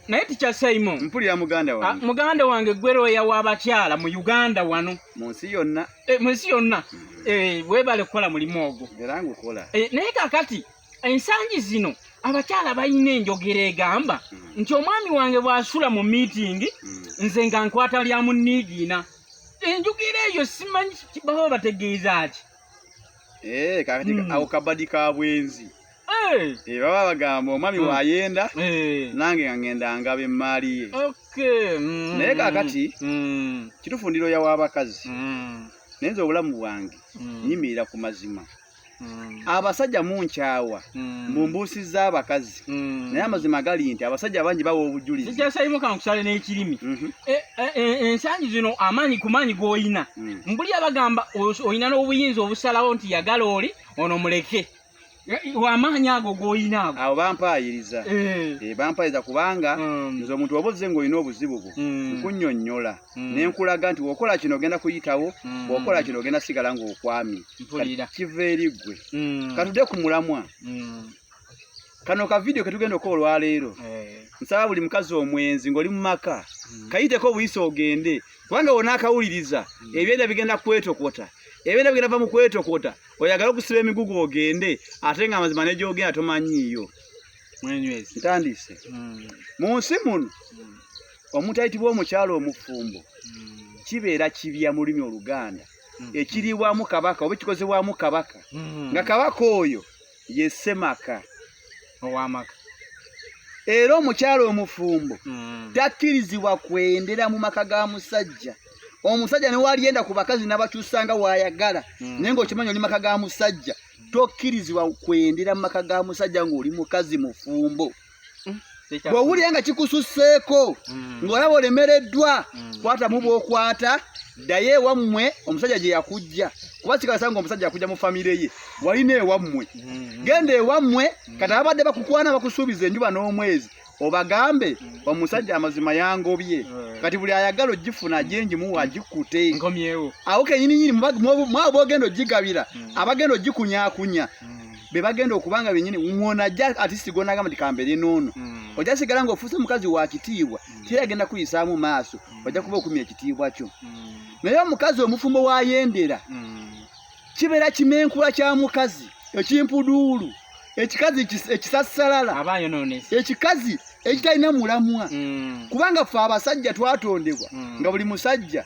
naye tikya saimo mpulira muganda wange ah, muganda wange gweroya wabakyala mu uganda wano munsi yonna eh, munsi yonna mm-hmm. eh, webale kukola mulimu ogwo era ngukola eh, naye kakati ensangi zino abakyala balina enjogera egamba mm-hmm. nti omwami wange bwasula mu miitingi mm-hmm. nze nga nkwata lya muniigiina enjogera eyo simanyi baba bategeeza ki kakati mm. awo kabadi ka bwenzi Eh, baba bagamba omwami hmm. wayenda eh. nange nga ngenda ngaba emmaali ye hmm. naye kakati hmm. kitufu ndiro yawa abakazi naye nze obulamu bwange nyimirira ku mazima abasajja munkyawa mu mbuusi z'abakazi naye amazima gali nti abasajja bangi bawa obujulizi kyasayimu kankusale n'ekirimi mhm. e, e, e, ensangi zino amaanyi ku maanyi g'olina mbuli abagamba olina n'obuyinza obusalawo nti yagala oli ono muleke wamaanyi ago golina ago awo bampaayiriza eh. Eh, bampaayiriza kubanga hmm. nze omuntu oba ozze ng'olina obuzibu bwo hmm. nkunyonnyola hmm. ne nkulaga nti wokola kino ogenda kuyitawo bwokola kino ogenda sigala ng'okwami kiva eri ggwe katude ku mulamwa kano ka vidiyo ke tugenda okola olwaleero eh. nsaba buli mukazi omwenzi ng'oli mu maka kayiteko obuyisa ogende kubanga wona akawuliriza ebyenda bigenda kwetokota ebyenda bigenda va mu kwetokota oyagala okusiba emigugu ogende ate nga amazima negyogenda tomanyiiyo ntandise hmm. mu nsi muno hmm. omuntu ayitibwa omukyalo omufumbo hmm. kibeera kibya mu lulimi oluganda ekiriibwamu kabaka oba ekikozebwamu kabaka nga kabaka oyo ye ssemaka owamaka era omukyala omufumbo mm. takkirizibwa kwendera mu maka ga musajja omusajja newalyenda ku bakazi nabakyusanga wayagala mm. naye ngaokimanyi oli maka ga musajja tokkirizibwa kwendera mu maka ga musajja ngaoli mukazi mufumbo mm. bw'owulira nga kikususseeko mm. ng'olaba olemereddwa mm. kwata mu bwokwata ddayo ewammwe omusajja gye yakujja kuba kikasa nga omusajja yakujja mu famire ye walina ewammwe mm-hmm. genda ewammwe mm. kati ababadde bakukwana bakusuubiza enjuba n'omwezi obagambe omusajja amazima yangobye kati buli ayagala ogifuna ajenji muwa agikute awo kenyininyini mwabo bogenda ogigabira abagenda ogikunyakunya bebagenda okuba nga benyini mwona ajja atisi gonagamba nti kambere noono mm. ojja sigala nga ofuuse mukazi wa kitiibwa mm. teri agenda kuyisaamu maaso mm. ojja kuba okumya ekitiibwa kyo mm. naye omukazi omufumbo wayendera mm. kibeera kimenkula kya mukazi ekimpuduulu ekikazi ekisassalala ekikazi ekitalina mulamwa mm. kubanga ffe abasajja twatondebwa mm. nga buli musajja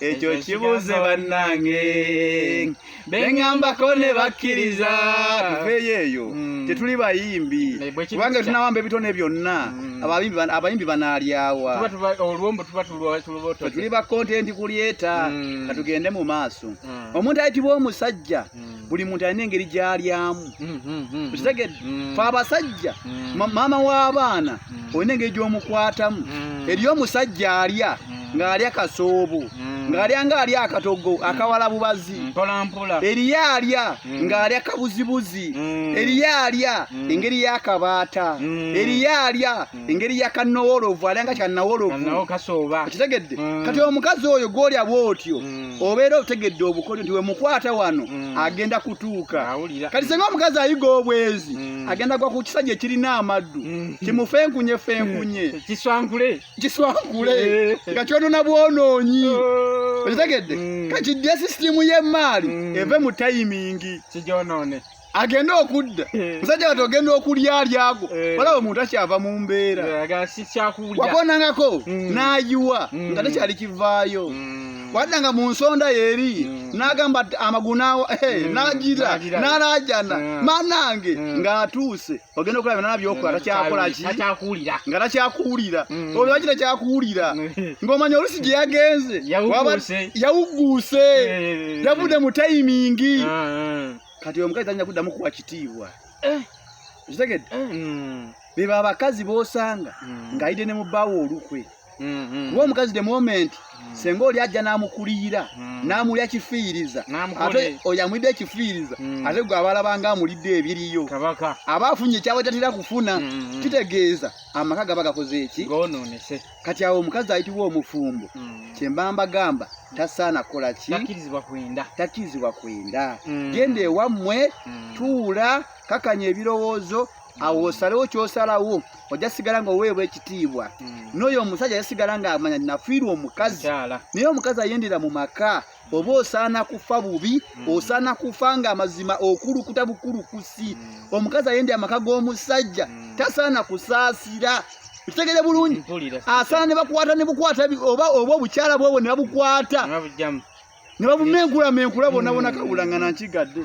ekyo kibuuze bannange bengambako ne bakkiriza tuveeyo eyo mm. tetuli bayimbi kubanga tunawamba ebitone byonna mm. abayimbi banaalyawa tuli bakontenti kulyeta mm. katugende mu maaso omuntu ayitibwa omusajja mm. buli muntu alina engeri gyalyamu mm, mm, okitegedde fe abasajja maama w'abaana olina engeri gy'omukwatamu eri omusajja alya ng'alya kasoobo ng'alya ng'alya akatogo akawala bubazi eriyo alya ng'alya kabuzibuzi eriyo alya engeri y'akabaata eriyo alya engeri ya kanowolovu alanga kanawolovu okitegedde mm. kati omukazi oyo gwolya bwotyo mm. obeera otegedde obukodyo nti wemukwata wano mm. agenda kutuuka kati senga omukazi ayiga obwezi agenda gwa ku kisajja ekirina amaddu kimufenkunye fenkunye kiswankule eh. nga kyonona bwonoonyi oh. okitegedde kati dya sisitimu y'emmaali eve mu tayimingi agende okudda eh. musajja wati ogenda okulya alyago eh. olaba omuntu akyava mu mbeera eh, wakonangako mm. nayiwa mm. nga tekyali kivaayo mm. wadda nga mu nsonda yeeri nagamba amagulu nagira nalajana manange ngaatuuse ogenda okulaba nana byokola takyakolaki nga takyakuwulira olwo wakita kyakuwulira ng'omanya olusi gye yagenze yawugguuse yavudde mu tayimingi ah, ah. kati omukazi tanya kuddamu kuwa kitiibwa eh. okitegedde eh, mm. beba abakazi bosanga mm. ng'ayidde ne mubbaawo olukwe mm-hmm. kuba omukazi the moment mm. senga oli ajja n'amukuliyira n'amulya kifiiriza ate oyo amulidde ekifiiriza ate gwe abalaba nga amulidde ebiriyo aba afunye ekyabatatera kufuna mm-hmm. kitegeeza amaka gaba gakoze eki kati awo omukazi ayitibwa omufumbo mm. kyemba mbagamba tasaana kukola ki takirizibwa kwenda takirizibwa kwenda mm. genda ewammwe mm. tuula kakanya ebirowoozo awo osalewo kyosalawo ojja sigala nga oweebwa ekitiibwa hmm. n'oyo omusajja ajja sigala nga amanya nafiirwa omukazi naye omukazi ayendera mu maka oba osaana kufa bubi mm. osaana kufa nga amazima okulukuta bukulukusi mm. omukazi ayende amaka g'omusajja mm. tasaana kusaasira kitegere bulungi asaana ne bakwata ne bukwata oba oba obukyala bwobwo ne babukwata ne babumeenkulamenkula bonabona kabulangana nkigadde